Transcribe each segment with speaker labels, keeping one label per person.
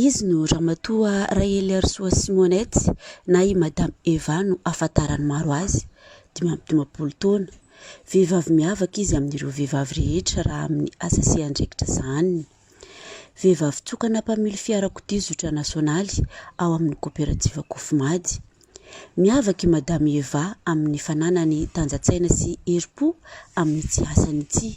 Speaker 1: Izy no Ramatoa Raheliharisoa Simonette na i Madame Eva no ahafantaran'ny maro azy, dimy amby dimampolo taona. Vehivavy miavaka izy amin'ireo vehivavy rehetra raha amin'ny asa sy andraikitra sahaniny. Vehivavy tokana mpamily fiarakodia zotra nasionaly ao amin'ny koperativa Cofimady. Miavaka i Madame Eva amin'ny fananany tanjan-tsaina sy herim-po amin'ny tsy asany ity.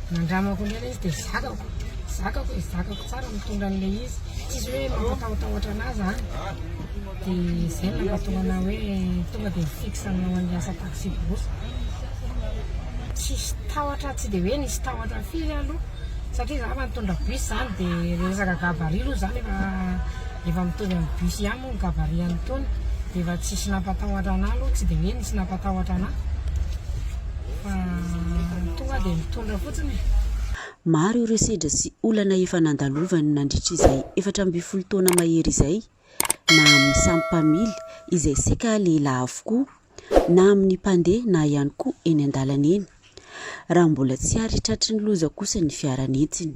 Speaker 2: Nandramako indray ilay izy dia zakako, zakako e, zakako tsara mitondra an'ilay izy, tsisy hoe mampatahotahotra anà zany, dia izay no nahatonga anà hoe tonga dia fixe hanao an'ilay asa taxi brousse. Tsisy tahotra, tsy dia hoe nisy tahotra firy aloha satria za efa nitondra bus zany dia le resaka gabarit aloha zany efa efa mitovy amin'ny bus ihany moa ny gabarit an'itony dia efa tsisy nampatahotra anà aloha, tsy dia hoe nisy nampatahotra anà. Fa tonga dia mitondra fotsiny e. Maro
Speaker 1: ireo sedra sy olana efa nandalovany nandritra izay efatra ambin'ny folo taona mahery izay, na amin'ny samy mpamily izay saika lehilahy avokoa, na amin'ny mpandeha na ihany koa eny an-dalana eny. Raha mbola tsy ary tratry ny loza kosa ny fiara nentiny.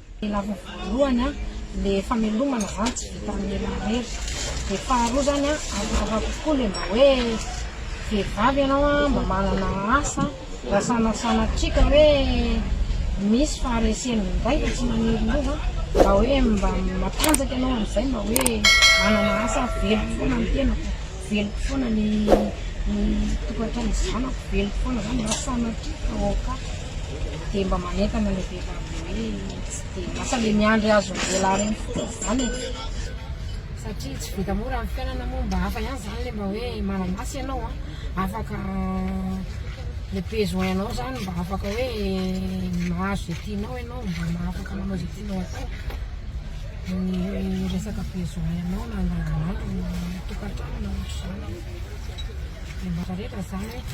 Speaker 2: Lava voalohany an, le famelomana zany tsy vita amin'ny ela irery, de faharoa zany an, hafahafa kokoa le mba hoe vehivavy ianao an, mba manana asa, raha sanasanatria ka hoe misy faharesena indray fa tsy maniry lova an, mba hoe mba matanjaka ianao amin'izay mba hoe manana asa, veloko foana ny tenako, veloko foana ny ny tokantranon'ny zanako, veloko foana zany raha sanatria ka ok. dia mba manentana le vehivavy le hoe tsy dia lasa le miandry azon'ny lehilahy reny fotsiny zany e satria tsy vita mora ny fiainana moa mba hafa ihany zany le mba hoe mananasy ianao a afaka le besoin anao zany mba afaka hoe mahazo zay tianao ianao mba mahafaka manao zay tianao atao ny resaka besoin anao na andavanandro na tokantrano na ohatr'izany dia mba rehetra zany hoe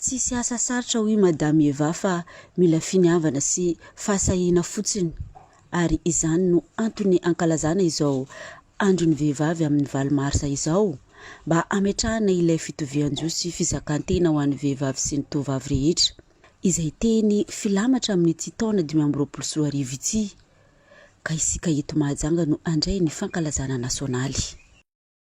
Speaker 1: Tsisy asa sarotra hoy Madame Eva fa mila finiavana sy fahasahiana fotsiny ary izany no antony ankalazana izao andron'ny vehivavy amin'ny valo marsa izao mba hametrahana ilay fitovian-jo sy fizakantena ho an'ny vehivavy sy ny tovovavy rehetra izay teny filamatra amin'ity taona dimy amby roapolo sy roa arivo ity ka isika eto Mahajanga no handray ny fankalazana nasionaly.